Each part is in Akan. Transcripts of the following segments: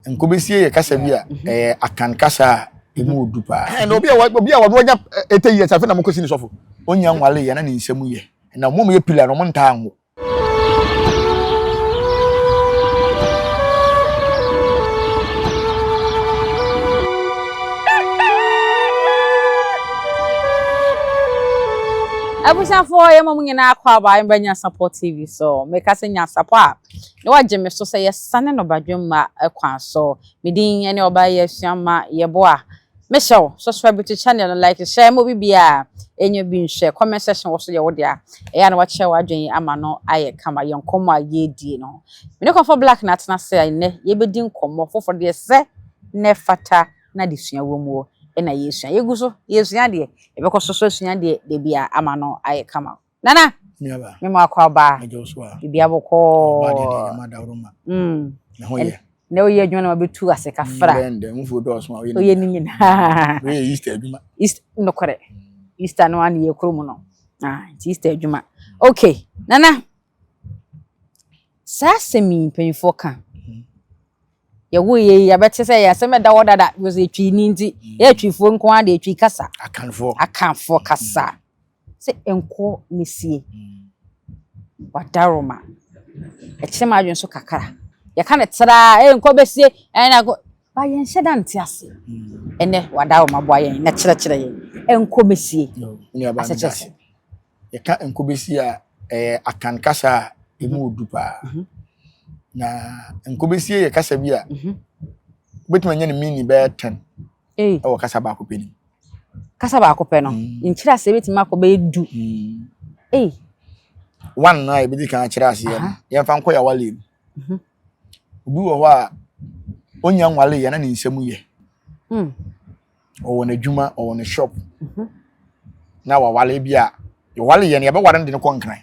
Nkobesie yɛ kasa bi a ɛyɛ Akan kasa a emu odu paa. Ɛna obi a obi a wɔde ɔnya eighty years afei na mo kɔsi ne sɔfo. Onnya nwale yɛ na ne nsɛm yɛ. Na wɔn a wɔyɛ pillar no wɔn ntaa nwo. Abusuafoɔ yɛma mo nyinaa kɔ aba mbɛnya Sapɔ TV so. Mekasa nya Sapɔ a. Na wagye me so sɛ yɛsane no badwemma kwan so. Me din ne ɔbaa yi asua ma yɛboa. Mehyɛ wo, subscribe to channel no, like, share ma obi biara a ɛnyɛ bi nhwɛ. Comment section wɔ so yɛ wo dea. Ɛyɛ a na wakyerɛ w'adwene ama no ayɛ kama yɛn nkɔmmɔ a yɛredie no ho. Me ne Kɔmfɔ Black na atena ase a nnɛ yɛbɛdi nkɔmmɔ foforɔ deɛ ɛsɛ na ɛfata na adesua wɔ muo na yɛresua. Yɛgu so yɛresua deɛ, yɛbɛkɔ so nso asua deɛ da biara ama no ayɛ kama. Nana. Miaba. Me mo akɔ aba. Ɛgya osu a. Bibi abɔkɔ. Ɔba deɛ deɛ yɛma dawuro ma. Mm. Ne ho yɛ. Na ɔyɛ adwuma na wabɛtu ase kafra. Bɛn dɛ mfuo dɔɔso a ɔyɛ ne nyinaa. Ɔyɛ ne nyinaa. Ɔyɛ Easter adwuma. East nokorɛ. Easter no ano yɛ kuro mu no. Ah, nti Easter adwuma. Okay, Nana. Saa asɛm yi mpanyinfoɔ ka. Yɛwo yɛ yi yɛbɛte sɛ yɛ asɛm ɛda hɔ dada because etwi ni nti yɛ etwifoɔ nko ara de etwi kasa. Akanfoɔ. Akanfoɔ kasa. sɛ nkɔ mesie wadaroma ɛkyerɛ m'adwene so kakra yɛka no traa ee nkɔ bɛsie ɛn na nkɔ ba yɛnhyɛ da nte aseɛ ɛnɛ wadaroma boa yɛn na kyerɛkyerɛ yɛn nkɔ mesie asekyerɛ yɛka nkɔ bɛsie a ɛyɛ akan kasa a ɛmu ɔdu paa mhm. na nkɔ bɛsie yɛ kasa bi a mhm. wobɛtumi anya ne mini bɛyɛ 10 wɔ kasa baako pɛ nim. kasa baako pɛ no mm. nkyerɛ aseɛ bɛtumi akɔ bɛyɛ du mm. one no a yɛbɛdi kan akyerɛ aseɛ no yɛmfa nkɔ yɛ awale mu mhm. obi wɔ hɔ a ɔnya nwale yɛ na ne nsɛm yɛ mm. ɔwɔ n'adwuma ɔwɔ ne shop mhm. na wawale bi a yɛwale yɛ no yɛbɛware no de no kɔ nkran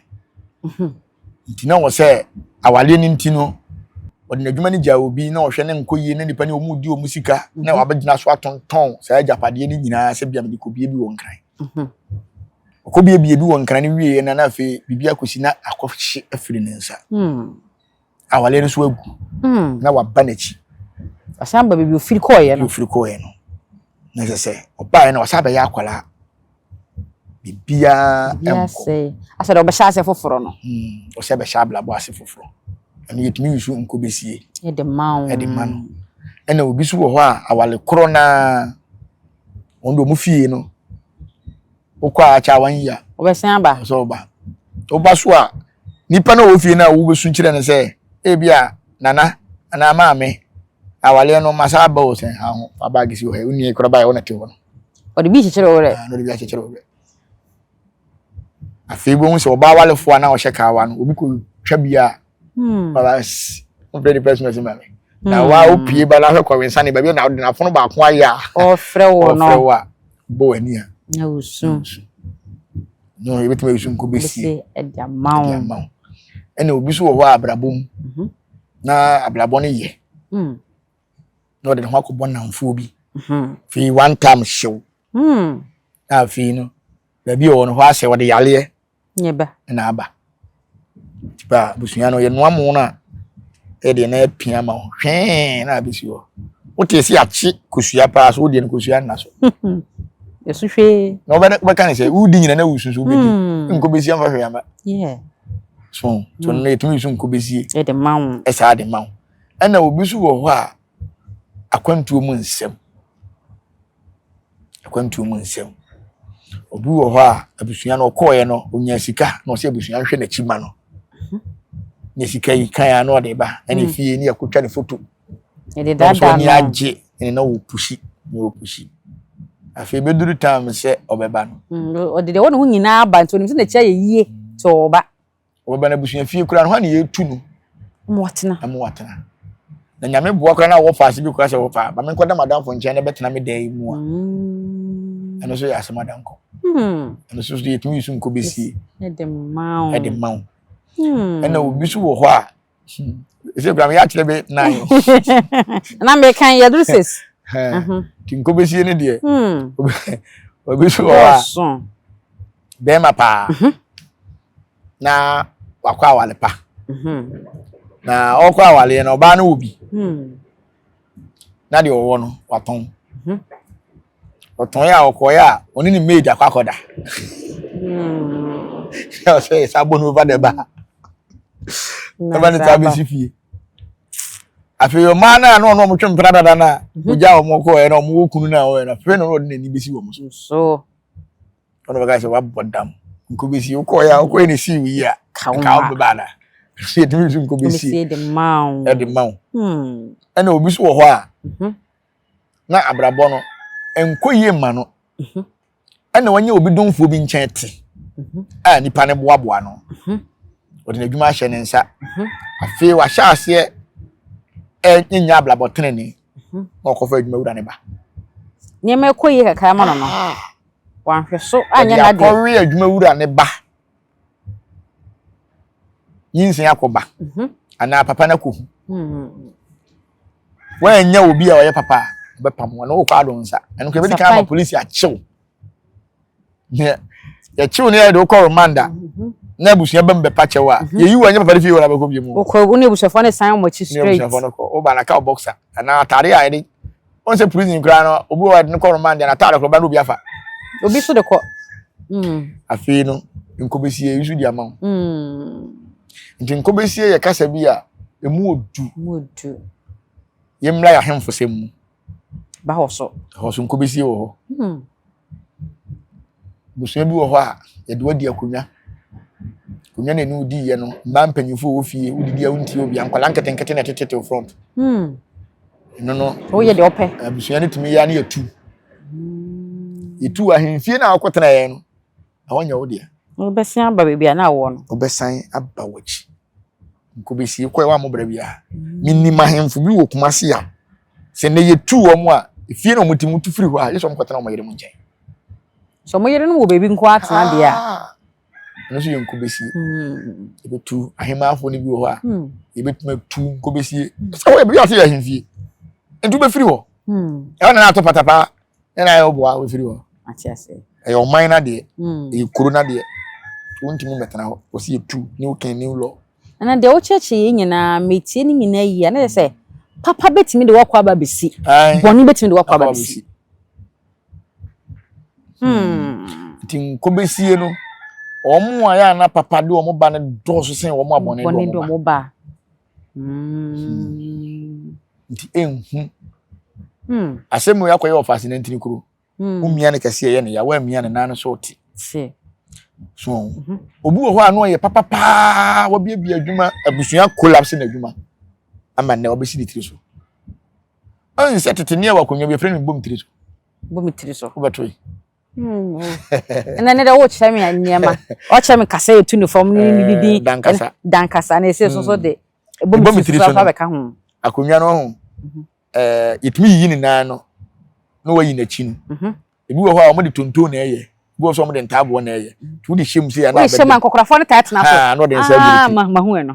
mhm. Nti na ɔwɔ sɛ awareɛ no nti no wɔde n'adwuma no gyaa obi na ɔhwɛ ne nkɔ yie na nipa ne wɔn di wɔn sika na mhm. wabɛgyina so atontɔn saa agyapadeɛ no nyinaa sɛ bia mede kɔbie bi wɔ nkran mhm. ɔkɔbie bie bi wɔ nkran no wieɛ na na afei biribi akɔsi na akɔhye afiri ne nsa hmm. awareɛ no so agu hmm. na waba n'akyi asan ba baabi ofiri kɔɔeɛ no ofiri kɔɔeɛ no na ɛsɛ sɛ ɔbaeɛ no ɔsan bɛyɛ akwaraa biribiara nkɔ. Asɛ dɛ ɔbɛhyɛ ase foforɔ no. Hmm, ɔsɛ bɛhyɛ abrabɔ ase foforɔ. Ɛno yɛtumi yusu nko bɛsie. Ɛde ma wo. Ɛde ma no. Ɛna obi so wɔ hɔ a awale korɔ naa wɔn de wɔn fie no wokɔ a akyɛ a wɔn yia. Wɔbɛsɛn aba. Ɔsɛ ɔba. Ɔba so a. Nnipa no a wɔwɔ fie no a wobesu kyerɛ no sɛ, ebia nana anaa maame, awaleɛ no masa aba o sɛ ha ho fa baage si wɔ ha, wonni kora baeɛ wo na te hɔ no. Ɔde bi kyekyere wo werɛ. Ah, ɔde bi akyekyere wo werɛ. Afei bohu sɛ ɔbaa walefoɔ a na ɔhyɛ kaawa no, obi kɔtwa bi a, hmm. baba ɔfrɛ de pɛsima si ma me. Na hmm. wa opie ba na ahwɛ kɔwe nsa ne baabi na ɔde n'afono baako ayɛ a. Ɔfrɛ wo no. Ɔfrɛ wo a, bɔ w'ani a. Na wosu. no yɛbɛtumi ayi so nkɔ bɛsie ɛde ama wo ɛna obi so wɔ hɔ a abrabɔ mu mhm. na abrabɔ no yɛ hmm. na ɔde ne ho akɔbɔ namfoɔ bi mhm. fii one time hyew hmm. na afei no baabi a ɔwɔ no hɔ asɛ ɔde yareɛ na aba Ba abusua no yɛnoa mo no a ɛdeɛ na apia ma wo hwɛɛ na abɛsi hɔ wote sɛ akye kosua paa so wodeɛ no kosua nna so ɛso hwee na wobɛka ne sɛ wodi nyina na wusu so wobɛdi hmm. nkɔbɛsi amfa hwee ama so so hmm. no ɛtumi so nkɔbɛsie ɛsaa de ma wo ɛna obi so wɔ hɔ a akwantuo mu nsɛm akwantuo mu nsɛm obi wɔ hɔ a abusua no ɔkɔɔeɛ no ɔnya sika na ɔsɛ abusua nhwɛ n'akyi ma no ne sika yi kan a na ɔde ba ɛna hmm. fie ne akɔtwa ne foto ɛne agye ɛne na ɔpusi na ɔpusi afei bɛduru tam sɛ ɔbɛba no hmm, ɔde deɛ wɔ ne ho nyinaa ba nti ɔnim sɛ n'akyi ayɛ yie sɛ ɔba wɔbɛn abusua fie koraa no hɔ na yɛtu no ma watena ma watena na nyame boa koraa na wɔfa ase bi koraa sɛ wɔfa ma menkɔda madamfo nkyɛn na bɛtena me dan mu a mm. ɛno nso yɛ asɛm adankɔ hmm. ɛno nso yɛtumi yi so nkɔ bɛsie ɛde ma wo hmm. ɛna obi so wɔ hɔ a ɛsɛ kura mi yɛakyerɛ bɛ nan. na mi kan yɛ duru six. ti nko bɛ sie ne deɛ. obi so wɔ a bɛrima paa mhm. na wakɔ awale pa mhm. na ɔkɔ awale yɛ na ɔbaa no wɔ bi. Hmm. na deɛ ɔwɔ no watɔn mhm. ɔtɔn yɛ a ɔkɔɛ a ɔne ne maid akɔ akɔda na ɔsɛ yɛ saa bɔ no over the bar ɛma ne taa bɛsi fie afei ɔmaa no a na ɔno ɔmo twe mpena dada no a mhm. ogya ɔmo kɔɛ na ɔmo wɔ kunu no a ɔyɛ no afei na ɔde n'ani bɛsi wɔn so ɔno bɛka sɛ wabɔ dam nkɔbɛsi wokɔɛ a wokɔɛ ne sii wo yi a ka wo bɛba ana yɛtumi nso nkɔbɛsi ɛde ma wo hmm. ɛna obi so wɔ hɔ a mhm. na abrabɔ no ɛnkɔ yie ma no mhm. ɛna wɔnyɛ obi domfoɔ bi nkyɛn te mhm. a nipa no boaboa no ɔde n'adwuma ahyɛ ne nsa afei wahyɛ aseɛ ɛnyɛ abrabɔ tenene na ɔkɔfa adwuma wura ne ba nneɛma ɛkɔ yie kakra ma no no ah. wanhwɛ so anyɛ n'adeɛ. Wɔde akɔwe adwumawura ne ba. Nyinsɛn akɔba. Mhm. Anaa papa no akɔhu. Mhm. Wɔanya obi a ɔyɛ papa a ɔbɛpam wɔn na wɔkɔ ado nsa. Ɛno nka ebedi kan ama polisi akyew. Yɛkyew no yɛ de wokɔ remand a mhm. na abusua bɛm bɛpa kyɛw a yɛyi wɔn nyɛ papa de fie wɔn abɛkɔ bi mu. Wokɔ wo ne abusuafoɔ no san wɔn akyi straight. Ne abusuafoɔ no kɔ. Woba na ka boxer anaa atade a yɛde wọn sɛ prison koraa no obi wɔ ɛde no kɔ remand yɛn ataade koro ba no obi afa. obi so de kɔ. Mm. afei no nkɔbɛsie nso di ama wo mm. nti nkɔbɛsie yɛ kasa bi a ɛmu ɔdu yɛmmra yɛ ahemfosɛm mu ba hɔ so hɔ so nkɔbɛsie wɔ hɔ mm. Abusua bi wɔ hɔ a, yɛde wadi akonnwa. Akonnwa na ɛne wo diiɛ no, mmaa mpanyinfo wɔ fie, wodidi a wontie obia, nkwadaa nketenkete na ɛtete wo front. Hmm. Ɛno no. Woyɛ deɛ ɔpɛ. Abusua no tumi yɛ ne yɛtu. Hmm. Yɛtu ahemfie no a wokɔtena yɛn no, na wɔnyɛ wo deɛ. Wobɛsan aba baabi a na awɔ no. Wobɛsan aba w'akyi. Nkobesi kɔɛ wa mo bra bia. Me nim ahemfo bi wɔ Kumasi ya. Sɛ ne yɛ tu wɔn a, efie na wɔn ti mu tu firi hɔ a, yɛ sɛ wɔn kɔtena wɔn yere mu nkyɛn. Sɛ wɔn yere no wɔ baabi nko atena deɛ a. Ah! Ɛno nso yɛ nkobesie. Hmm. Yɛbɛtu ahemmanfoɔ no bi wɔ hɔ a, hmm. yɛbɛtumi atu nkobesie. Hmm. Sɛ wɔyɛ biribi ase yɛ ahemfie. Nti wobɛfiri hɔ. Ɛhɔ na na ato patapaa. ɛna ayɛ ɔboa wofiri hɔ ɛyɛ ɔman no adeɛ hmm. ɛyɛ kuro no adeɛ wontumi mmɛtena hɔ wɔsi yɛtu new king new law ɛna deɛ wokyerɛkyerɛ yɛ nyinaa metie no nyinaa yie ɛna sɛ papa bɛtumi de wakɔ aba bɛsi bɔne bɛtumi de wakɔ aba bɛsi hmm. nti nkɔbɛsie no wɔn a yɛ ana papa de wɔn ba no dɔɔso sɛn wɔn abɔne de wɔn ba Hmm. Nti enhu. Hmm. Asɛm mu akɔyɛ ɔfaase na ntini kuro. Hmm. Womia ne kɛseɛ yɛ ne ya, woamia ne nan so te. Se. So, mhm. obi wɔ hɔ a ano ɔyɛ papapaa, wabiabia adwuma, abusua collapse na adwuma. Ama nnɛ wabɛsi ne tiri so. Ɔnsɛ tete ne ɛwɔ akonnwa bi, ɛfrɛ no bom tiri so. Bom tiri so. Wobɛto yi. Hmm, oh. ɛnna ne dɛ wokyerɛ me nneɛma ɔkyerɛ me kasa yɛ tu ne fam ne ne didi eh, dankasa dankasa na ɛsɛ so so hmm. de ɛbɔ me tiri so afa bɛka ho akonnwa no ho mhm. eh, yɛtumi yiyi ne nan no na wayi n'akyi no mhm. ebi wɔ hɔ a wɔde tonton na ɛyɛ ebi wɔ so wɔde ntaaboɔ na ɛyɛ mhm. nti wode hyɛ mu sɛ yɛ na abɛde hyɛ mu nkɔkorɔfoɔ no taa tena so ah, na ɔde nsa agu ne ah, ti mahu ɛno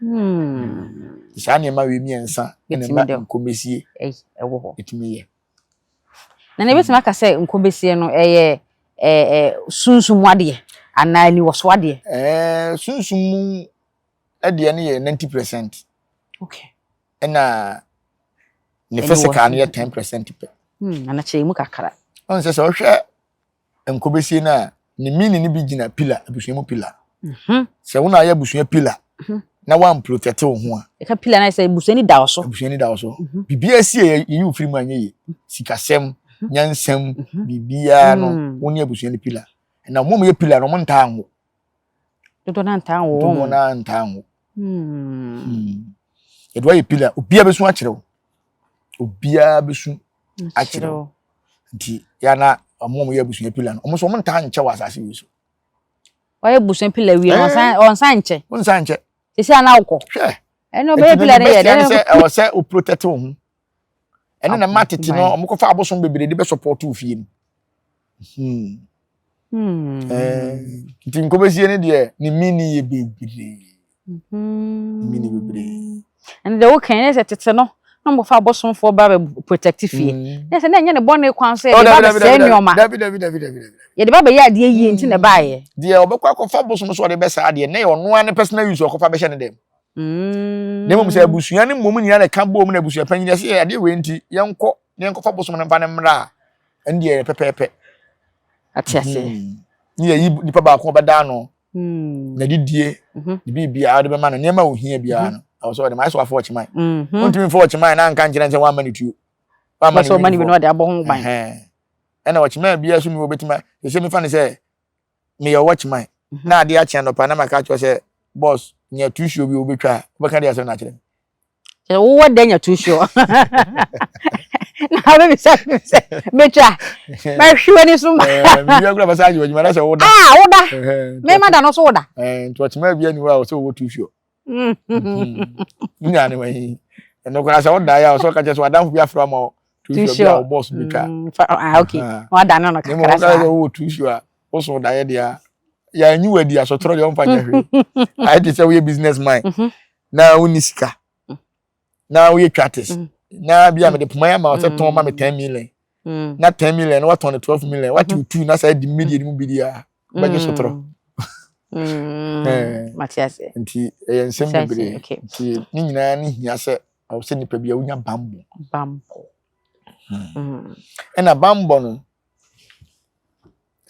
Hmm. Saa nneɛma wei mmiɛnsa na ɛma nkomesie ɛwɔ hɔ. Ɛtumi yɛ. Na na ebetumi aka sɛ nkomesie no ɛyɛ ɛɛ sunsun mu adeɛ anaa aniwɔso adeɛ. Ɛɛ sunsun mu adeɛ no yɛ ninety percent. Okay. Ɛna ne physical no yɛ ten percent pɛ. Hmm. Anakyɛ emu kakra. Ɔn sɛ sɛ ɔhwɛ nkɔbɛsie no a ne mini no bi gyina pila abusua mu pila mhm. sɛ wo na ayɛ abusua pila mhm. na woamprotɛte wo ho a ɛka pila no sɛ abusua ni da wo so abusua ni da wo so mhm. biribiaa sie yɛyi wo firi mu anyɛ ye sikasɛm nyansɛm biribiaa no mm. wo ne abusua no pila na ɔmom yɛ pila no ɔmo ntaa nwo dodoɔ no ntaa nwo dodoɔ no ntaa nwo hmm. hmm. yɛde woayɛ pila obiaa bɛsu akyerɛ wo obiaa bɛsu akyerɛ wo nti yɛ na ɔmo ɔmo yɛ abusua pila no ɔmo nso ɔmo ntaa nkyɛ wɔ asase wei so. ɔyɛ abusua pila wie no ɔnsan ɔnsan nkyɛ. ɔnsan nkyɛ. sisi a na wokɔ. hwɛ ɛnna ɔbɛyɛ pila no yɛ dɛ. ɛnna sɛ ɛwɔ sɛ o protect wo ho ɛnna na mma tete no ɔmo kɔfa abosom bebree de bɛ support wo fie no. Hmm. Hmm. Eh, nti nkɔbɛsie no deɛ ne mini yɛ bebree Mm-hmm. Mini bebree. And the okay, yes, it's it's no. Na mo fa bosom for ba be protective fee. Mm-hmm. Yes, na nya ne born kwan so e ba be say nyoma. Dabi dabi dabi dabi dabi. Ye de ba be ya de yi nti na ba ye. De e obekwa ko fa bosom so de be sa de na ye ono an personal use okofa be hye ne dem. Mm. Na mo say abusua ne mom nyina na ka bo mu na abusua panyin de say ade we nti ye nko ne nko fa bosom ne mfa ne mra. Ndi e pepepe. Atiase. Ni ye nipa ba ko be da no. Mm. Na didie, mhm. ne biribiara de bɛma no nneɛma a ohia biara no. Ɛwɔ sɛ ɔde ma ɛsɛ wafɔ ɔkyeman. Wontumi mfɔ ɔkyeman na nka nkyerɛ sɛ wamma ne tuo. Wamma ne wini fɔ. Ɔde abɔ ho ban. Ɛna ɔkyeman biara so ni wɔ bɛtumi ɛsɛ mefa no sɛ meyɛ ɔwɔ kyeman na adeɛ akye anɔpa na maka kyerɛ sɛ bɔs nya tusuo bi wobɛtwa a wobɛka deɛ asɛm no akyerɛ me. Sɛ wowɔ dɛ nya too sure. Na wobɛbisa no sɛ mɛtwa mahwe w'ani so ma. Mewia kura bɛsa agye w'adwuma na sɛ woda. Ah woda. Mema da no so woda. Nti ɔkyema bi ani hɔ a ɔsɛ ɔwɔ too sure. Munya ne wani. Ɛno koraa sɛ woda yɛ a ɔsɛ ɔka kyɛ sɛ wadamfo bi afra ma too sure bi a ɔbɔs bi twa. Ah okay. Wada no no kakra saa. Ne mo wɔ too sure a woso da yɛ deɛ a yɛanyi wadi asɔtorɔ deɛ ɔmfa nyɛ hwee. Ayɛ te sɛ woyɛ business man. na wonni sika na woyɛ twates na bi a mede poma yɛ ama ɔsɛ tɔn ma me ten million na ten million na watɔn ne twelve million wate wo tu na saa di mmedi anim bi di a wobɛgye sotorɔ nti ɛyɛ nsɛm bebree nti ne nyinaa ne hia sɛ ɔwɔ sɛ nipa bi a wonya bambɔ bambɔ ɛna bambɔ no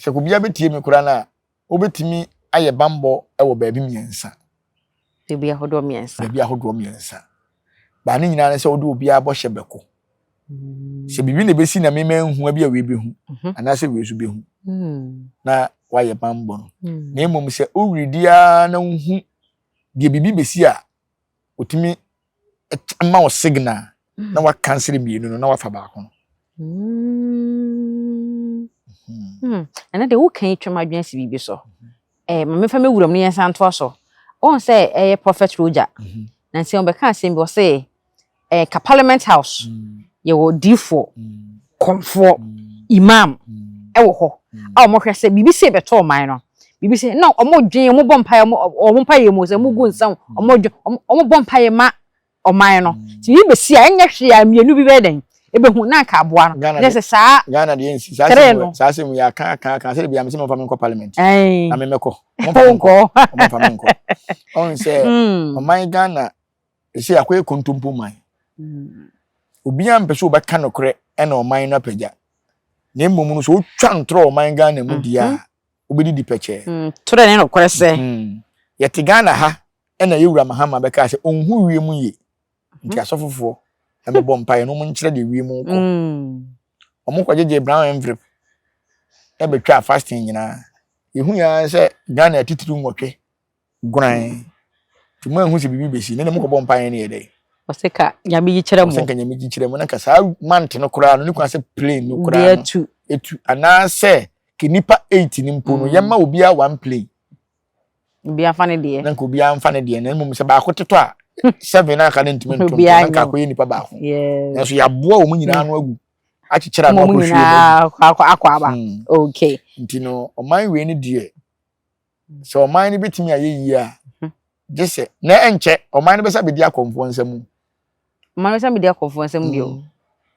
sɛ obiara bɛtie me koraa no a Wobɛtumi ayɛ bammɔ wɔ baabi mmiɛnsa. Baabi ahodoɔ mmiɛnsa. Baabi ahodoɔ mmiɛnsa. Baa ne nyinaa ne sɛ wode obiara bɔhyɛ bɛko. Mm. Sɛ biribi na ɛbɛsi na mema nhu bi a wei bɛhu mhm. anaasɛ wei nso bɛhu mm. na woayɛ bammɔ no. Mm. Na mmom sɛ woredi ara na wohu deɛ biribi bɛsi a otumi ma wo signal na mm. wakansere mmienu no na wafa baako no mm. hmm. ɛnɛ deɛ woka yi twam adwene si biribi so eh, ma mefa mɛwura mu no yɛnsa ntoa so ɔhu sɛ ɛyɛ eh, prophet roger mm-hmm. nansi ɔbɛka asɛm bi ɔse ɛɛ ka parliament house yɛwɔ diifoɔ kɔmfoɔ imam ɛwɔ hɔ a wɔn hwɛ sɛ biribi sɛ bɛtɔ ɔman no biribi sɛ na wɔn dwen wɔn bɔ mpaeɛ wɔn wɔn mpaeɛ mu sɛ wɔn gu nsa wɔn dwen wɔn wɔn bɔ mpaeɛ ma ɔman no ti yi bɛsi a ɛnyɛ hwee a mmienu bi bɛyɛ dɛn ɛbɛhu na nka aboa no na sɛ saa Ghana deɛ nsi saa sɛ mu saa sɛ mu yɛ aka aka aka sɛ ebi amesɛ mo nfa mi nkɔ parliament na mi mɛkɔ mo nfa mi nkɔ mo nfa mi nkɔ ɔn sɛ ɔman Ghana ɛsɛ akɔyɛ kontompo man mm. obiara mpɛ sɛ wobɛka nokorɛ ɛna ɔman no apagya na mmom no sɛ wotwa ntorɔ ɔman ghana mu deɛ a mhm. wobɛdidi pɛkyɛɛ mm, torɛ ne nokorɛ sɛ mhm. yɛte ghana ha ɛna yɛwura mahama bɛkaa sɛ ɔnhu wie mu yie nti mhm. asɔfofoɔ ɛbɛbɔ mpaeɛ no ɔmonkyerɛ deɛ wie mu kɔ ɔmokɔgyegye brown envelope ɛbɛtwaa fasting nyinaa yɛhu yɛa sɛ ghana atitiri nwɔtwe Guan, nti moanhu sɛ biribi bɛsi, na na mokɔbɔ mpaeɛ no yɛ dɛn? Ɔse ka Nyame gyi kyerɛ mo. Ɔse nka Nyame gyi kyerɛ mo, na nka saa month no koraa no, ne kwan sɛ plane no koraa no atu, atu, anaasɛ ka nnipa eight no mpo no, mm. yɛmma obiara one plane. Obiara fa ne deɛ. Na nka obiara mfa ne deɛ, na mmom sɛ baako totɔ a, seven na aka no ntumi ntom, na nka akɔyɛ nnipa baako. Nanso yɛaboa wɔn nyinaa no agu akyekyere ano akɔ fie no akɔ aba hmm. okay nti no ɔman wei ne deɛ Sɛ ɔman no bɛtumi ayɛ yie a, gye sɛ na ɛnkyɛ ɔman no bɛsa bɛdi akɔmfoɔ nsam. Ɔman no bɛsa bɛdi akɔmfoɔ nsam bio. Mm.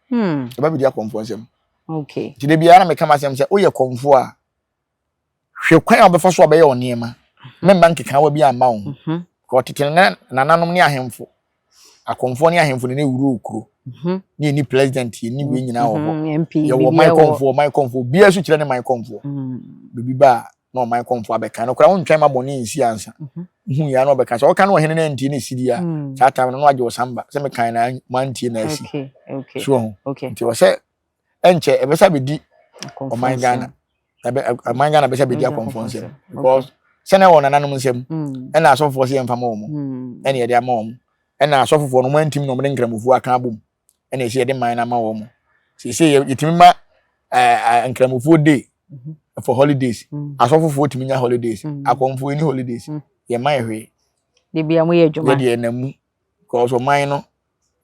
Hmm. Ɛba bɛdi akɔmfoɔ nsam. Okay. Nti da biara na meka m'asɛm sɛ woyɛ kɔmfoɔ a hwɛ kwan a wobɛfa so a bɛyɛ wo nneɛma. Mmɛmma nkekaawa bi amma wo ho. Mhm. Ɔtete nananom ne ahemfo akɔmfoɔ ne ahemfo ne ne wuro okuro ne yɛni president yɛni wei nyinaa wɔ hɔ yɛwɔ man kɔmfoɔ man kɔmfoɔ biara so kyerɛ ne man kɔmfoɔ biribi ba a na ɔman kɔmfoɔ abɛka no koraa wontwɛn ma bɔne nsi ansa hu yɛ na ɔbɛka sɛ ɔka no ɔhene no antie ne sidi a saa tam no na wagye ɔsamba sɛ mekan na mantie na asi so ho nti ɔsɛ ɛnkyɛ ɛbɛsa bɛdi ɔman ghana ɔman ghana bɛsa bɛdi akɔmfoɔ nsɛm because sɛnɛ wɔ nananom nsɛm mm. ɛna asɔfofoɔ sɛ yɛmfa ma wɔ mu mm. ɛne yɛde ama wɔ mu ɛna asɔfofoɔ no wɔantim na wɔde nkramofoɔ aka abom ɛna ɛsɛ yɛde man no ama wɔ mu seesei yɛtumi ma nkramofoɔ day mhm. for holidays mm. asɔfofoɔ tumi nya holidays akɔmfoɔ ɛni holidays yɛma yɛ hwee yɛdeɛ namu because ɔman no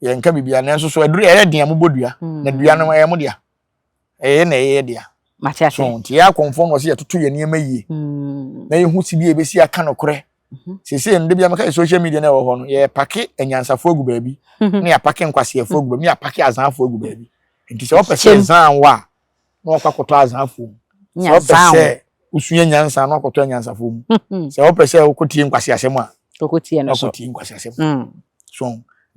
yɛnka biribiara nanso so aduru ɛyɛ den a mobɔ dua hmm. na dua no ɛyɛ mo dea ɛyɛ na ɛyɛ dea mate ase so nti yɛ akɔnfɔ no ɔsɛ yɛtoto yɛ nneɛma yie hmm. na yɛhu si bi a ebesi aka no korɛ mhm. sese no de bi amaka yɛ social media na ɛwɔ hɔ no yɛ pake anyansafo agu baabi mhm. ne yɛ pake nkwaseɛfo agu baabi ne yɛ pake azanfo agu baabi nti sɛ wɔpɛ sɛ zan wa na ɔkɔ akɔtɔ azaafoɔ mu sɛ ɔpɛ sɛ wosua nyansa na ɔkɔtɔ anyansafoɔ mu sɛ ɔpɛ sɛ wokɔtie nkwasi asɛm a ɔkɔtie nkwasi asɛm hmm. so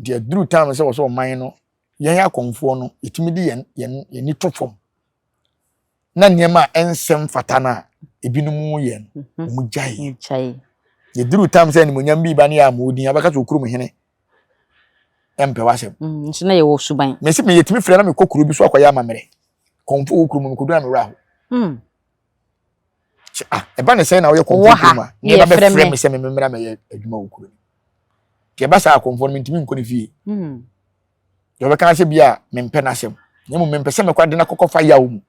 deɛ duru time sɛ wɔ sɛ ɔman no yɛn akɔmfoɔ no ɛtumi de yɛn yɛn yɛn ani to fam na nneɛma a ɛnsɛm fata no a ebinom yɛ no mhm. wɔn gyae yɛduru time sɛ animonyam bi ba ne yɛ a wɔn din abɛka sɛ okurum hene ɛmpɛ w'asɛm. Mm, nso na yɛwɔ suban. Mesi mi yɛtumi fira na mi kɔ kuro bi so akɔyɛ amammerɛ. Kɔnfo wɔ kuro mu kɔdu na mi wura hɔ. Mm. Sɛ ah ɛba ne sɛn na ɔyɛ kɔnfo kuro mu a ne yɛba bɛ fira mi sɛ mi mi mmerɛ mɛ yɛ adwuma wɔ kuro mu. Deɛ ɛba saa kɔnfo no mi ntumi nkɔ ne fie. Mm. Deɛ ɔbɛka asɛ bi a mi mpɛ n'asɛm. Na emu mi mpɛ sɛ mɛkɔ adi na kɔkɔ fa yaw mu.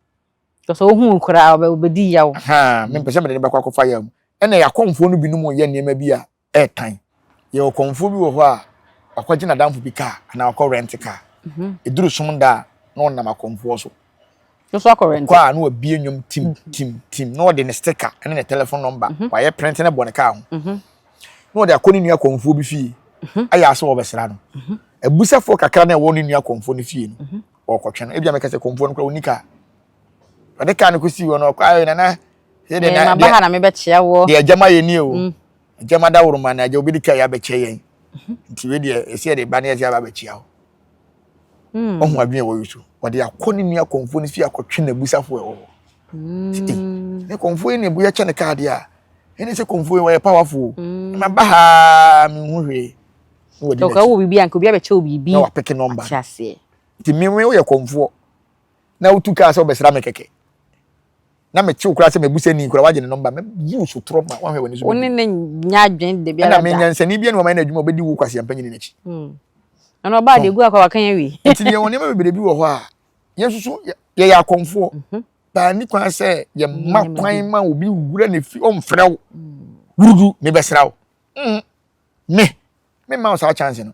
Tɔsɛ ohun koraa ɔbɛ ɔbɛdi yaw. Ha mi mpɛ sɛ mɛ de ne bɛkɔ akɔfa yaw mu. Ɛna yɛ akɔnfo no binom yɛ nneɛma bi a ɛretan. Yɛwɔ kɔmfoɔ bi wɔ hɔ a, wakɔgye n'adamfo bi kaa anaa wakɔ rɛnte kaa. Ɛduru som da a, na ɔnam akɔmfoɔ so. Nso akɔ rɛnte. Kɔ a na wabie nnwom tim tim tim na ɔde ne stika ne ne telefon nɔmba wayɛ prɛnte ne bɔ ne kaa ho. Na ɔde akɔ ne nua kɔmfoɔ bi fie ayɛ asɛ ɔbɛsra no. Abusafoɔ kakra na ɛwɔ ne nua kɔmfoɔ no fie no ɔrekɔtwe no. Ebia mɛka sɛ kɔmfoɔ no koraa ɔnni kaa. ɔde kaa no kɔsii hɔ no ɔkɔ ayɛ na na sɛ deɛ na deɛ na mebɛkyea wɔ deɛ agyama yɛ nie o agyama mm. da woro ma no agya obi de kaa yɛ abɛkyɛ yɛn mhm. nti wei deɛ ɛsɛ yɛde ba ne yɛsɛ aba abɛkyea hɔ mm. ɔho adwene ɛwɔ yi so ɔde akɔ ne nua kɔmfoɔ no fie akɔtwe no abusafoɔ ɛwɔ hɔ mm. ne kɔmfoɔ yi na ɛbu yɛkyɛ ne kaa deɛ a ɛne sɛ kɔmfoɔ yi wɔyɛ powerful ma ba haa menhu hwee ɔkɔ wɔ biribi a nka obi abɛkyɛ wɔ biribi na wapeke nɔmba nti mewe woyɛ kɔmfoɔ na wotu kaa sɛ wobɛsra me kɛkɛ na mete wo koraa sɛ mabusani koraa wagye ne nɔmba mɛyi wo so torɔ ma woahwɛ w'ani so wo ne ne nya adwen da biara da ɛna menyansani bia ne wɔma yɛ no adwuma ɔbɛdi wo kwasi ampa nyini n'akyi hmm. ɛna ɔbaa de gu akɔ waka yɛ wi nti deɛ wɔn nneɛma bebree bi wɔ hɔ a yɛn nso so yɛyɛ akɔmfoɔ mhm. baa ne kwan sɛ yɛma kwan ma obi wura ne fi ɔmfrɛ wo hmm. wurudu mebɛsra wo hmm. me memma wo saa chance no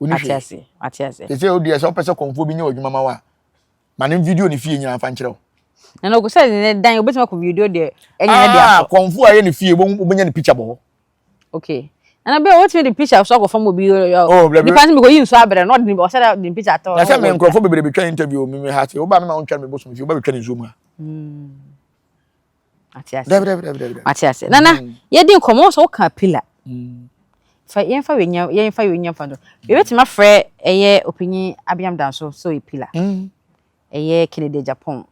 woni hwee ase ate ase te sɛ odi ɛsɛ ɔpɛ sɛ kɔnfoɔ bi nyɛ ɔdwuma ma wa ma ne video ne fie nyinaa fa nkyerɛw na na ɔkɔ sɛ ne dan obetumi akɔ video deɛ ɛnyɛ ne deɛ akɔ kɔnfoɔ a ɛyɛ ne fie wobɛnya ne picture bɔ hɔ okay na bia wotumi de picture so akɔfam obi nipa sɛ mekɔyi nso abrɛ no ɔde ɔsɛ dɛ de picture atɔ na sɛ me nkurɔfoɔ bebree betwa interview me me ha sɛ woba me ma wontwa me bosom fie wobɛbɛtwa ne nsuo mu a ate ase dabi dabi dabi dabi ate ase nana mm. yɛdi nkɔmɔ sɛ woka pila mm. fa yɛmfa wenya yɛmfa wenya fa do yɛbɛtumi afrɛ ɛyɛ ɔpanyin abiam danso sɛ ɔyɛ pila mm. ɛyɛ kennedy japan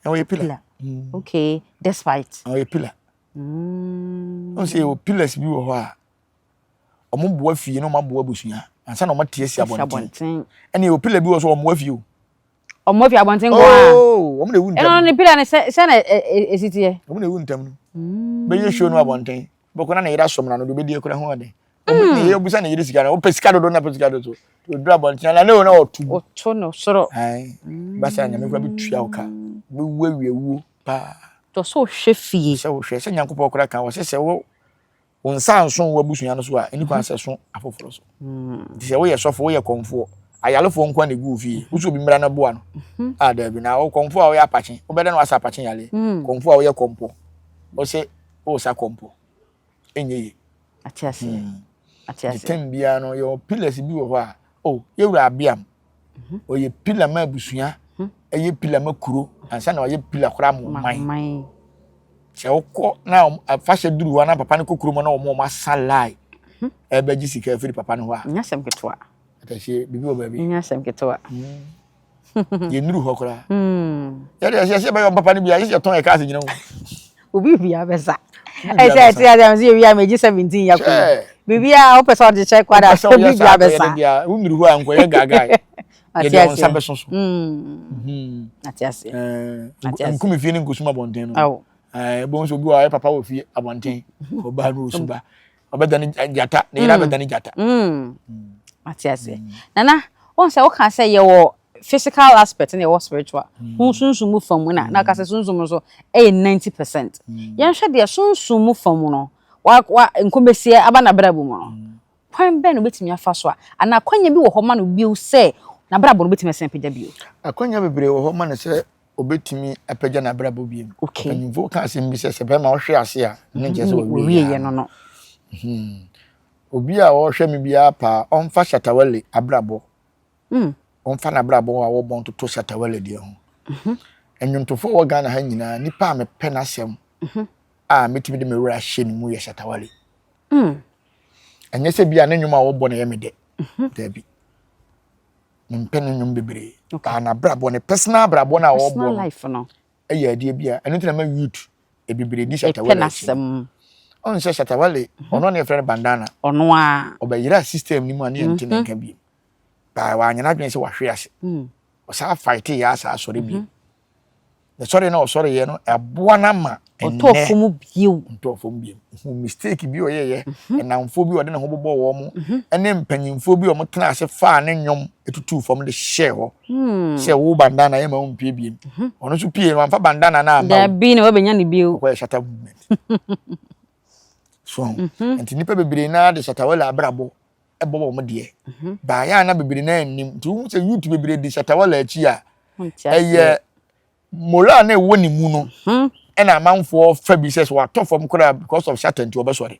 ɛwɔ yɛ pila okay despite ɛwɔ yɛ pila ɔn sɛ yɛwɔ pilas bi wɔ hɔ a ɔmo boa fie na ɔmo aboa abusua ansa na ɔmo ate asi abɔnten ɛna yɛwɔ pila bi wɔ so ɔmo boa fie o Wɔn afi abɔnten nko ara. Oo, wɔn na ewu ntɛm. Ɛnna ne pira no sɛ sɛ na esi teɛ. Wɔn na ewu ntɛm no. Mm. Bɛyɛ show no abɔnten. Bɛkɔ na ne yere asɔm na no de bɛdi ekura ho ɔden. Wɔn hmm. ne yere busa ne yere sika na wɔpɛ sika dodo na pɛ sika dodo. Odura abɔnten na ne yɛ na ɔtu. Ɔtu no soro. Ɛn hmm. basa nyame kura bi tua ɔka. Bɛwu awie wuo paa. Tɔ so hwɛ fie. Sɛ wohwɛ sɛ nyankopɔn kura kan wɔ sɛ sɛ wo Wo nsa anso w'abusua no so a, nni kwan sɛ ɛso afoforo so. Nti sɛ woyɛ sɔfo, woyɛ kɔmfoɔ, ayarefoɔ nko na ɛgu wo fie, wo sɛ obi mmra no boa no? Mhm. A ah, daabi. Na wo kɔmfoɔ a woyɛ apakye, wobɛdɛ na woasa apakye yareɛ. Mm. Kɔmfoɔ a woyɛ kɔmpɔ, wo sɛ wosa kɔmpɔ. Ɛnyɛ ye. Ate aseɛ. Mm. Ate aseɛ. Tem biara no, yɛwɔ pillars bi wɔ hɔ a, oh, yɛwura abeam, ɔyɛ pila ma abusua ɛyɛ pila ma kuro ansa na ɔyɛ pila koraa ma ɔman sɛ ɔkɔ na afahyɛ duru hɔ na papa no kɔ kurom na wɔn wɔn asa line ɛbɛgye sika afiri papa no hɔ a nyɛ asɛm ketewa atɛhyɛ biribi wɔ baabi nyɛ asɛm ketewa yɛnuru hɔ koraa yɛde ɛsɛ ɛsɛ bɛyɛ ɔmpapa no bi a yɛsɛ yɛtɔn yɛ kaase nyina mu obi bia bɛsa ɛsɛ ɛte ase ɛsɛ yɛ wia mɛgye seventeen yɛ kɔn biribi a wopɛ sɛ ɔde kyɛ kwada sɛ obi bia bɛsa wonuru hɔ a nkɔyɛ gaagaa yɛde wɔn nsa bɛso so ate ase nkumi fie ne nkusuma bɔnten no ɛbɛn sɛ obi wɔ ayɛ papa wɔ fie abɔnten ɔbaa no ɔsuba ɔbɛdane gyata ne yere mm. abɛdane gyata mm. ate aseɛ mm. nana wɔn sɛ woka sɛ yɛwɔ physical aspect na yɛwɔ spiritual ho sunsun mu fam na na ɔka sɛ sunsun mu nso ɛyɛ ninety percent yɛnhwɛ deɛ sunsun mu fam no wa wa nkomesie aba na abira bu mu no kwan bɛn na obetumi afa so a anaa akwanya bi wɔ hɔ ma no bio sɛ n'abrabɔ no obetumi asan pagya bio. akwanya bebree wɔ hɔ ma no sɛ obetumi apagya n'abrabɔ bio. Mpanyimfo ka asɛm bi sɛ sɛ bɛrima ɔhwe ase a, ne mhm. nkyɛ sɛ wɔwie yɛ no no. Mhm. Obi a ɔhwɛ me biara paa, ɔmfa Shatawale abrabɔ. Mm. Ɔmfa n'abrabɔ a wɔbɔ ntoto Shatawale deɛ ho. Mhm. Nnwontofo wɔ Ghana ha nyinaa, nipa a mepɛ n'asɛm a metumi de me wura hyɛ ne mu yɛ Shatawale. Mm. Ɛnyɛ sɛ bi a ne nnwom a wɔbɔ na ɛyɛ me dɛ. Daabi. ne mpɛ ne nnwom bebree baa n'abrabɔ ne personal abrabɔ no a ɔbɔ no ɛyɛ adeɛ bi a ɛno nti na ma youth ebibire di shatawale akyi ɔn sɛ shatawale mhm. ɔno ne yɛfrɛ no bandana ɔno a ɔbɛyera system no mu a ne yɛnte ne mhm. nka bi baa wanyɛ n'adwene sɛ wahwe ase mm. ɔsaa fight yɛ asaa asɔre bi mhm. ne sɔre na ɔsɔre yɛ no ɛboa no ama ɔtɔ fam bio ɔtɔ fam bio hu mistake bi ɔyɛ yɛ mhm. nnamfoɔ bi ɔde ne ho bobɔ wɔn mo mhm. ɛne mpanyinfoɔ bi ɔmo tena ase faa ne nnwom etutu fam de hyɛ hɔ hmm. sɛ wo bandana yɛ ma wo mpie biem mhm. ɔno nso pie no anfa bandana na ama wo dabi na wabɛnya ne bio ɔkɔ yɛ shata movement so nti nipa bebree naa de shata wɛlɛ abrabɔ bɔ wɔn deɛ mhm. baayɛ a na bebree na anim nti wohu sɛ youth bebree di shatawala akyi a ɛyɛ moral na ɛwɔ ne mu no mhm. ɛna amanfoɔ fa bi sɛ so watɔ fam koraa because of shata nti wɔbɛsɔre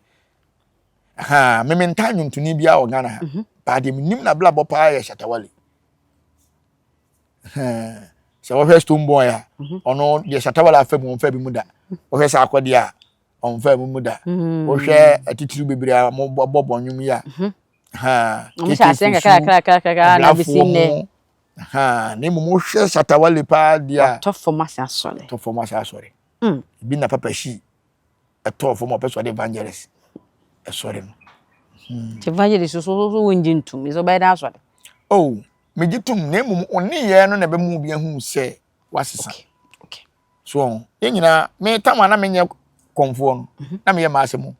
aha meme ntaa nwontoni biara wɔ ghana ha mhm. baadeɛ menim na blabɔ paa yɛ shatawale sɛ wɔhwɛ stone boy a ɔno deɛ shatawale afa mu ɔmfa bi mu da wɔhwɛ sɛ akɔdeɛ a ɔmfa mu mu da hmm. wohwɛ atitiriw bebree a wɔbɔ bɔ nnwom yi a hmm. wɔhyɛ aseɛ nkakrakrakrakra na bɛsi nnɛ na mmom wohwɛ shatawale paa di a tɔ fam ase asɔre tɔ fam ase asɔre hmm. ebi na papa hyi ɛtɔɔ fam ɔpɛ sɛ ɔde evangelist ɛsɔre no evangelist so so wongye ntom ɛsɛ ɔbɛyɛ dɛ asɔre oh megye tom na mmom ɔne yɛɛ no na ɛbɛma obi ahu sɛ wasesa okay. so wɔn yɛn nyinaa me tam a na menyɛ kɔnfoɔ no mhm. na meyɛ maa asɛm o.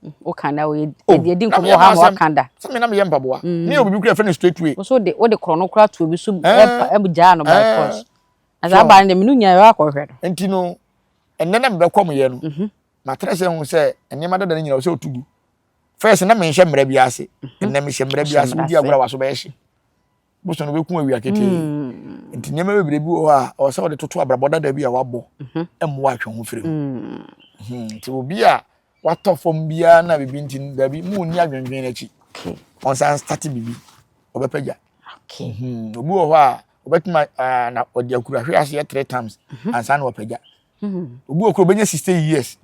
Mm, woka da o yɛ di nkɔmɔ ha ma waka da. sɛ mi na meyɛ mpaboa mm. ne yɛ obibi kura fɛn ne straight way. woso de wode korɔ no kora tuo bi so ɛpa eh. ɛmu gyaa no by eh. force na saa baa no de menu nyinaa yɛ akɔhwɛ no. nti no ɛnɛ na mebɛ kɔm yɛ no mhm. matere sɛ ho sɛ nneɛma dada no nyina sɛ ɔtugu fɛs na menhyɛ mmerɛ bi ase mhm. ɛnɛ mehyɛ mmerɛ bi ase wodi agorɔ a waso bɛyɛ hye bosom no bɛku awia ketee mm. nti nneɛma bebree bi wɔ hɔ a ɔwɔ sɛ wɔde toto abrabɔ dada bi a wabɔ mhm. mmoa atwe ho firi mu mm. mhm. nti obi a watɔ fam biara na biribi nti daabi mu nni adwendwen n'akyi ɔnsan starte biribi ɔbɛpɛgya mhm. obi wɔ hɔ a ɔbɛtumi na ɔde akurahwe aseɛ three times ansa na wapɛgya obi wɔ koro bɛnya sixty years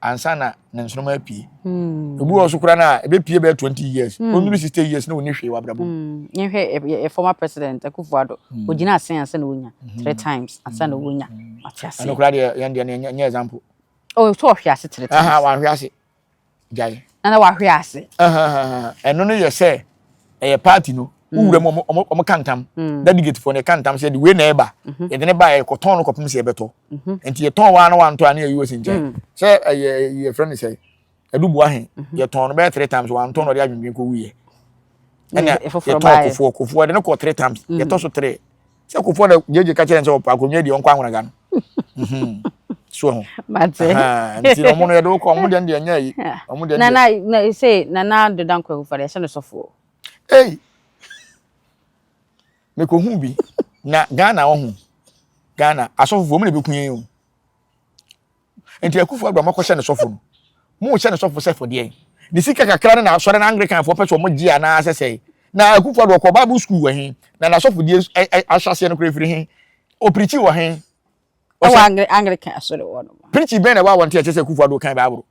ansa na ne nsoroma apue obi wɔ so kora no a ɛbɛpue bɛyɛ twenty years ɔnuru sixty years na ɔni hwee wabrabɔ mu. yɛhwɛ yɛ former president akufo ado ɔgyina asen ansa na ɔnya three times ansa na ɔnya mate ase. ɛno kora deɛ yɛn deɛ no nyɛ example. ɔsɛ ɔhwe ase three times. wahwe ase. gyae. na na wahwe ase. ɛno no yɛ sɛ ɛyɛ party no wowura mu ɔmo ɔmo ɔmo ka ntam delegate fo no ɛka ntam sɛ de wei na ɛba yɛde ne ba yɛ kɔtɔn no kɔpem sɛ yɛbɛtɔ nti yɛtɔn waa na wantɔ a ne yɛyi wɔsi nkyɛn sɛ ɛyɛ yɛfrɛ no sɛ adubua he yɛtɔn no bɛyɛ three times wantɔ na ɔde adwendwen kɔ wuyɛ ɛna yɛtɔn kofoɔ kofoɔ de ne kɔ three times yɛtɔ so three sɛ kofɔ na gyegye ka kyerɛ sɛ ɔpɛ akonnwa deɛ ɔnkɔ ahonaga no mhm. so ho nti ɔmo no yɛde wokɔ ɔmo deɛ deɛ nyɛ yi ɔmo deɛ nana na sɛ nana doda nkɔ kofɔ deɛ ɛhyɛ no sɔfoɔ ei mekɔ hu bi na Ghana ɔho Ghana asɔfofoɔ ɔmo na ebi kun yɛn o nti akufo adɔ mɔkɔ hyɛ ne sɔfo no mo hyɛ ne sɔfo sɛ fɔdeɛ ne sika kakra ne na asɔre na anglican fo pɛ so mo gye anaa sɛ sɛ na akufo adɔ kɔ bible school wɔ he na na sɔfo die ahyɛseɛ no kora firi he opirikyi wɔ he ɛwɔ anglican asɔre wɔ no pirikyi bɛn na ɛwɔ awɔnte ɛkyɛ sɛ akufo adɔ kan bible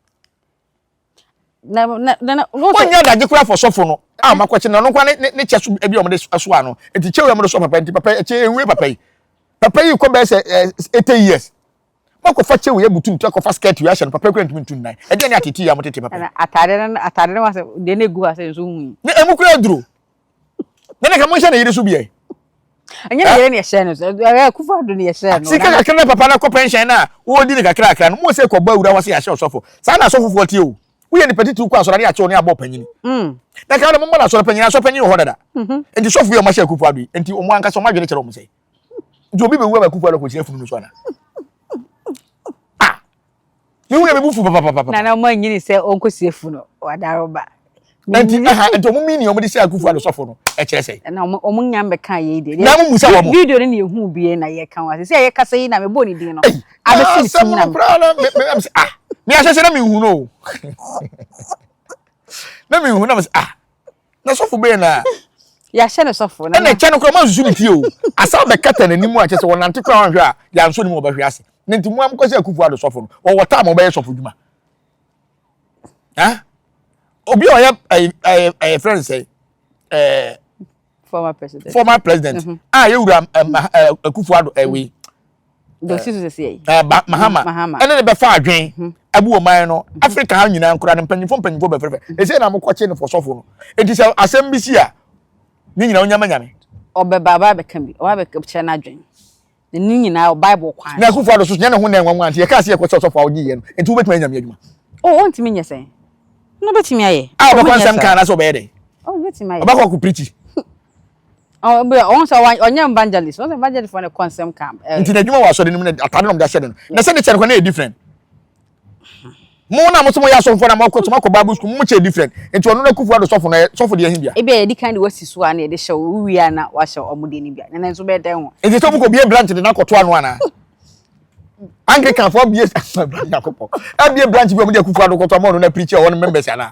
na na na na no wɔnyɛ adagye koraa fɔ sɔfo no a ɔma kɔkye na ɔno nkoa ne ne kyɛ so bi a wɔde soa no nti kyɛw yɛ mo de soa papa nti papa ɛkyɛ ewie papa yi papa yi kɔ bɛyɛ sɛ ɛɛ eighty years wakɔfa kyɛw yɛ butu nti akɔfa skirt yɛ ahyɛ no papa yi kura ntumi ntu nnan ɛdeɛ ne atete yɛ a wɔtete papa yi ɛna ataade no ataade no wa sɛ deɛ na egu ha sɛ nso hu yi na emu kura aduro na ne ka mo nhyɛ ne yere so bi ɛ. ɛnyɛ ne yere ne ɛhyɛ no so ɛyɛ kufu ado ne ɛhyɛ no. sika kakra na papa na kɔ pɛnhyɛn na wɔredi ne kakra kakra no mo sɛ kɔbɔ awura wɔ se yɛahyɛ ɔsɔfo saa na asɔfofoɔ tie o woyɛ nipa titiriw kɔ asɔre ne akyɛw ne abɔ panyini mm. na kan na mo mma no asɔre panyini asɔre panyini wɔ hɔ dada mhm. nti sɔfo yi ɔma hyɛ kufu ado yi nti ɔmo ankasa ɔmo adwene kyerɛ ɔmo sɛ nti obi bɛwu ama kufu ado kɔkyerɛ funu no so ana Yehu na mebu fu papapapa. Na na ɔma nyini sɛ ɔnkɔsie fu no wadaro ba. Nti aha nti ɔmo mini ɔmo de sɛ akufu ado sɔfo no ɛkyerɛ sɛ. Na ɔmo ɔmo nya mbɛka yei de. Na mo musa wɔn. Video no na yɛhu bie na yɛka ho ase sɛ yɛ kasa yi na mebɔ ne din no. Abɛsi ne sum na me. Ah me ahyɛhyɛ na mehu no. Na mehu na me ah na sɔfo bɛyɛ na. yɛahyɛ no sɔfo na. ɛna ɛkyɛ no koraa mo ansusu ne fie o asa bɛkata n'anim a kyɛ sɛ wɔnante koraa wɔnhwɛ a yɛansɔ ne mu ɔbɛhwe ase ne nti mo a mokɔsɛ akufo ado sɔfo no wɔwɔ taa ma ɔbɛyɛ sɔfo dwuma ha obi a ɔyɛ ɛyɛ ɛyɛ fɛn sɛ ɛɛ. former president former president mm-hmm. a ah, yɛwura akufo ado ɛwei eh, mm-hmm. dosi so sisi yɛ eh, mahama ɛne ne bɛfa adwen mm-hmm. abu ɔman no africa ha nyinaa nkora ne mpanyinfo mpanyinfo bɛfɛfɛ ɛsɛ na mo kɔkye ne fɔsɔfo no eti sɛ asɛm bi si a ne nyinaa onyama nyame ɔbɛba ɔba abɛka bi ɔba abɛkyerɛ n'adwen Ne nyinaa wɔ Bible kwan so. Na Akufo Addo so nyɛ ne ho nnɛɛ nwanwa nti yɛkaa sɛ yɛkɔ sɛ ɔsɔfo a ɔgye yɛ no nti wobɛtumi ayɛ Nyame adwuma. Oh ɔntumi nyɛ sɛn? No ɔbɛtumi ayɛ. A ɔbɛkɔ nsɛm ka anaasɛ ɔbɛyɛ dɛn? Oh ɔbɛtumi ayɛ. Ɔbɛkɔ akɔ preachi. Ɔhu sɛ ɔnyɛ evangelist, ɔhu sɛ evangelist fo na ɛkɔ nsɛm ka. Nti n'adwuma wɔ asɔre no mu na atade na ɔmde ahyɛ no no. Na sɛ ne kyɛ no kɔ na ɛyɛ different. mo na mo sɛ mo yɛ asɔfo na mo akɔ so mo akɔ bible school mo kyɛ different nti ɔno na kufu ado sɔfo na sɔfo deɛ hindia. ebi a yɛde kan de wasi so a na yɛde hyɛ wo wia na wahyɛ ɔmo deɛ no bia na nanso bɛyɛ dɛn ho. nti sɛ ɔmo kɔ bie branch de na akɔto ano anaa anglican fo bie nyakopɔ abie branch bi ɔmo de akufu ado kɔto ama ɔno na preacher ɔwɔ no members anaa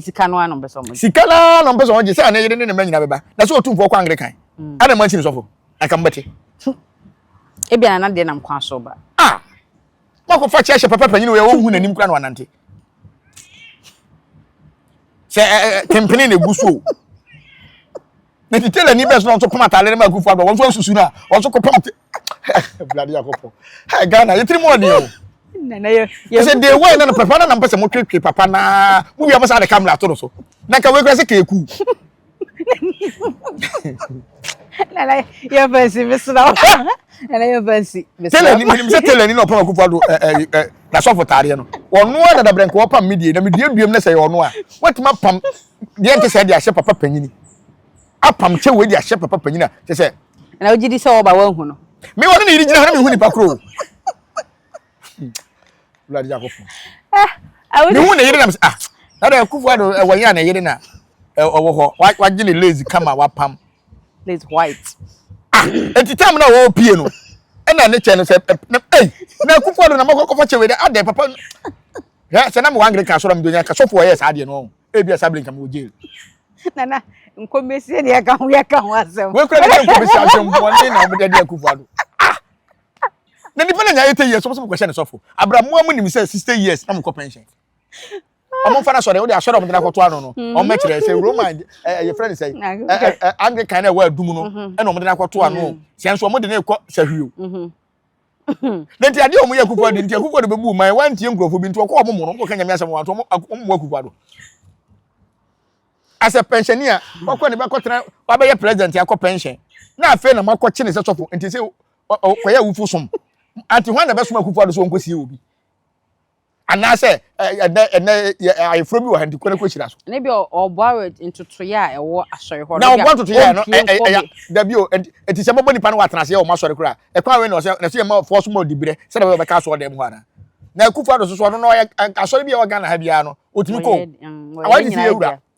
Sika no ara na ɔmpɛ sɛ wɔgye. Sika no ara na ɔmpɛ sɛ wɔgye sɛ ne yere ne ne mma nyinaa bɛba. Na sɛ ɔtumfoɔ kɔ Anglikan mm. a na mma nsi no sɔfo. Anka mobɛte. Ebia na na deɛ nam kwan so ba. Ah! Makɔfa kyɛ hyɛ papa panyin wɔ yɛ wɔhu n'anim kora na wanante. Sɛ kempene na egu so o. na ti tailor ni bɛs na ɔnso pam atade no ma akufo adɔ wɔnso ansusu na wɔnso kɔ pam blade akɔpɔ hey Ghana yɛtiri mu ɔdeɛ o yɛsɛ day one na no papa na na mpɛ sɛ motwetwe papa na mo wia bɛsa de camera ato no so na nka wei kora sɛ keeku nana yɛ fansi mesra wo nana yɛ fansi mesra wo tɛlɛ ni menim sɛ tɛlɛ ni na ɔpam akufo adɔ ɛ ɛ ɛ nasɔfo taadeɛ no ɔno a dadabrɛ nka wɔpam medie na meduaduam na sɛ yɛ ɔno a wɔatumi apam deɛ nte saa de ahyɛ papa panyini apam kyɛ wei de ahyɛ papa panyini a kyɛ sɛ. na wogye di sɛ wɔba wɔahu no. me wɔne ne yere gyina ha na mehu nipa koro o wulade yakɔfo mehu ne yere nam sɛ ah dada akufo ado ɛwɔ yɛ a ne yere na ɔwɔ hɔ wagye ne lazy kama wapam lazy white ah eti tam na ɔwɔ pie no ɛna ne kyɛ no sɛ na ei na akufo ado na mɔkɔkɔfa kyɛ wei dɛ adɛ papa hwɛ sɛ na mewɔ anglican asɔre a mede nya ka sɔfo ɔyɛɛ saa deɛ no ɔho ebi a saa bere nka mewɔ jail nana nkɔmɛsie ne yɛka ho yɛka ho asɛm wei kura ne sɛ nkɔmɛsie asɛm bɔne na wɔde adi akufo ado ah na nipa na nya 80 years wɔn sɛ mokɔhyɛ ne sɔfo abira mmoa mu nim sɛ 60 years na mokɔ pension wɔn mfa no asɔre wɔde asɔre wɔn de akɔto ano no wɔn mm. mɛkyerɛ sɛ roman ɛyɛ fɛn sɛ anglican na ɛwɔ adum no ɛna wɔn de akɔto ano sɛ nso wɔn de ne kɔ sɛ hwio. na nti adeɛ ɔmo yɛ akukua de nti akukua de bɛbu man wantie nkurɔfoɔ bi nti ɔkɔ ɔmo mu no ɔmo kɔka nyame asɛm wɔn ɔmo mu akukua do asɛ pɛnhyɛni a wakɔ ne bɛkɔ tena wabɛyɛ president akɔ pɛnhyɛn na afei na mo akɔ kye ne sɛ sɔfo nti sɛ ɔkɔyɛ awufo som ante hwan na bɛsoma akukua do so ɔnkɔsie obi Anaasɛ ɛnɛ ɛnɛ ayeforo bi wɔ ha nti kɔ ne kɔ hyira so. Ne bi ɔboa wɔ ntotoyɛ a ɛwɔ asɔre hɔ. Na ɔboa ntotoyɛ no ɛyɛ dabi o eti sɛ bɔbɔ nipa no wɔ atenase yɛ wɔn asɔre kora ɛkwan wei na ɔsɛ na ɛsɛ yɛ ma fɔ so ma ɔdi birɛ sɛ na ɔbɛka asɔre dɛm hɔ ana. Na Akufo-Addo soso ɔno na ɔyɛ asɔre bi a ɛwɔ Ghana ha biara no otumi kɔ. Awɔ ɛdi si yɛ wura.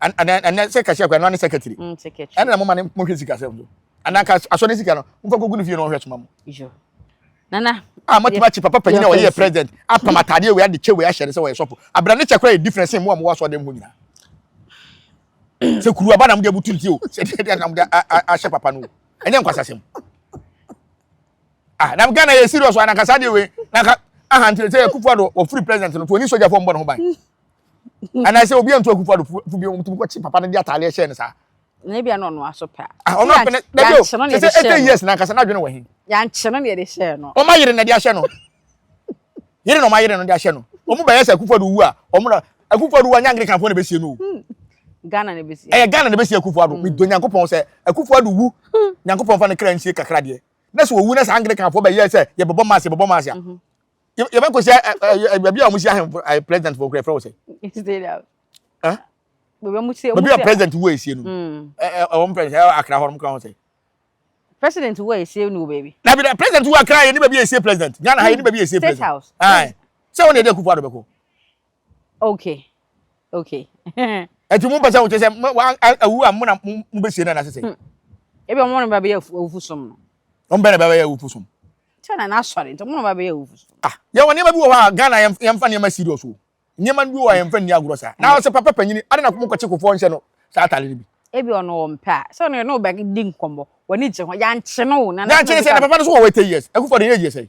And and and then say cashier kwa no ne secretary. Mm secretary. And na mo ma ne mo hwe sika sɛ mo. And na ka aso ne sika no. Mo fa gugu ne fie no hwe soma mo. Yo. Nana. Ah mo tuma chi papa panyin na ɔyɛ president. Apam atade we ade che we ahyɛ ne sɛ ɔyɛ sɔfo. Abra ne che kora yɛ difference mo a mo waso dem ho nyina. Sɛ kuru aba na mo de abutu nti o. Sɛ de de na mo de ahyɛ papa no. Ɛnyɛ nkwasasɛm. Ah na Ghana yɛ serious ana ka sa de we. Na ka aha nti sɛ kufu ado wɔ free president no to ni soja fo mbɔ no ho ban. anaasɛ obi antu akufo ado fo bi wɔn tumi kɔkye papa no de ataadeɛ hyɛ no saa. na ebi ano ɔno aso pɛ a. Ah, ɔno apɛ na dabi o sɛ sɛ ɛtɛ years na nkasa n'adwene wɔ he. yankyerɛ no na yɛde hyɛ no. wɔn ayere na de ahyɛ no yere na wɔn ayere no de ahyɛ no wɔn bɛyɛ sɛ akufo ado wu a wɔn na akufo ado wu a nyangere kanfo na bɛsie no o. Hmm. ghana na bɛsie. ɛyɛ ghana na bɛsie akufo ado hmm. mi do nyankopɔn sɛ akufo ado wu hmm. nyankopɔn fa ne kra nsie kakra deɛ na sɛ owu na sɛ angere kanfo bɛyɛ sɛ yɛbɛbɔ maase yɛbɛbɔ maase a. Mhm. yɛbɛkɔ sɛ baabi a wɔsi ahemfo president fo kura ɛfrɛ wo sɛ baabi a president wo esie no wɔn president ɛwɔ akra hɔ wɔn kura ho sɛ president wo esie no baabi na bi president wo akra yɛ ne baabi esie president ghana ha yɛ ne baabi esie president sɛ wɔn na yɛ de akufo ado bɛkɔ okay okay ɛti mo mpɛsɛ wokyɛ sɛ awu a mona mobɛsie no anasɛ sɛ hmm. ebi ɔmo no bɛbɛyɛ awufo som no ɔmo bɛ na bɛbɛyɛ awufo som kyɛ na n'asɔre nti ɔmo no bɛbɛyɛ awufo som ah yɛwɔ nneɛma bi wɔ hɔ a ghana yɛmfa nneɛma serious o nneɛma bi wɔ hɔ a yɛmfa nni agorɔ saa na ɔsɛ papa panyini ade na mo kɔkye kofoɔ nhyɛ no saa atare no bi ebi ɔno wɔ mpɛ a sɛ ɔno yɛ no bɛ di nkɔmmɔ wɔne gye ho yɛankye no na yɛankye no sɛ na papa no so wɔ wɔ 80 years akufo de yɛ yɛ sɛ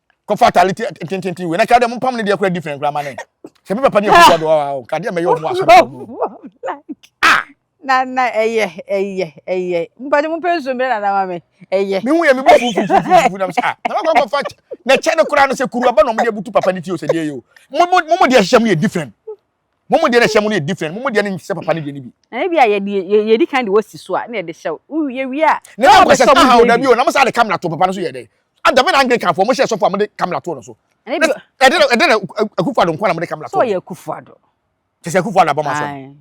kɔfa atade tententen wei na kra dɛ mo mpam ne deɛ kora different kora ma ne sɛ me papa ne ɛkɔkɔ do ɔwa o kadeɛ mɛyɛ ɔmo asɔre ah na na ɛyɛ ɛyɛ ɛyɛ mpade mo pɛ nsuo mmerɛ nana ma me ɛyɛ me hu yɛ me bu fufufufufu na me sɛ ah na ma kɔkɔ fa na kyɛ ne kora no sɛ kuru aba na ɔmo de abutu papa ne ti o sɛ deɛ yɛ o mo mo mo deɛ hyehyɛ mo yɛ different mo mu deɛ na ɛhyɛ mo no yɛ different mo mu deɛ no nhyɛ papa no deɛ no bi. na ebi a yɛde yɛdi kan de wɔsi so a na yɛde hyɛ wo yɛ wie a. na ɛna nkɔsɛ sɛ aha ɔda bi o na mo saa de kamera to papa no so yɛ dɛ adame na anglican fo mo hyɛ sɔfo a mo de kamera to no so ɛde ɛde na akufo ado nkwa na mo de kamera to so yɛ akufo ado kyɛ sɛ akufo ado abɔ mo asɛm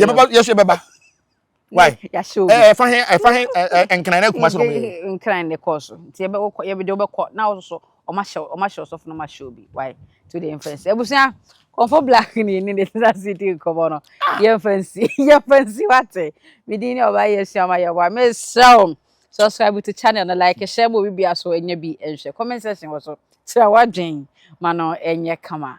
yɛ bɛba yɛ so yɛ bɛba why yɛahyɛ obi ɛɛ ɛfa he ɛfa he ɛɛ nkran na akuma so na ɔmo yɛ nkran na ɛkɔɔ so nti yɛbɛ wokɔ yɛbɛ de wobɛkɔ na ɔso so ɔmo ahyɛ ɔmo ahyɛ ɔsɔfo na ɔmo ahyɛ obi why to the influence ebusua kɔnfɔ black ni yɛ ni de sisa si di nkɔmɔ no yɛn fɛn si yɛn fɛn si wate mi di ni ɔba yɛ sua ɔba yɛ wa mi srɛw subscribe to channel no like hyɛ mo obi bi aso enya bi nhwɛ comment section wɔ so kyerɛ wadwen ma no ɛnyɛ kama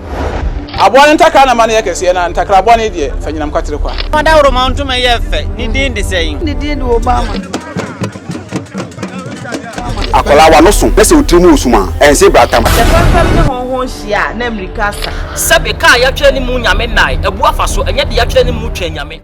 Aboa no ntakra na ma no yɛ kɛseɛ, na ntakra bɔne deɛ, fa nyinam kwatere kwa. Fa dawuroma ntoma yɛ fɛ, ne din de sɛn? Ne din de Obama. Akwadaa w'ano so na sɛ wo tiri mu wɔ sum a, ɛnse bratamu. Sɛ fɛmfɛm ne hɔnhɔn hyia a, na mmirika asa. Sɛbe, ka a yɛatwerɛ ne mu Nyame nnae, abu afa so, ɛnyɛ deɛ yɛatwerɛ ne mu twɛn Nyame.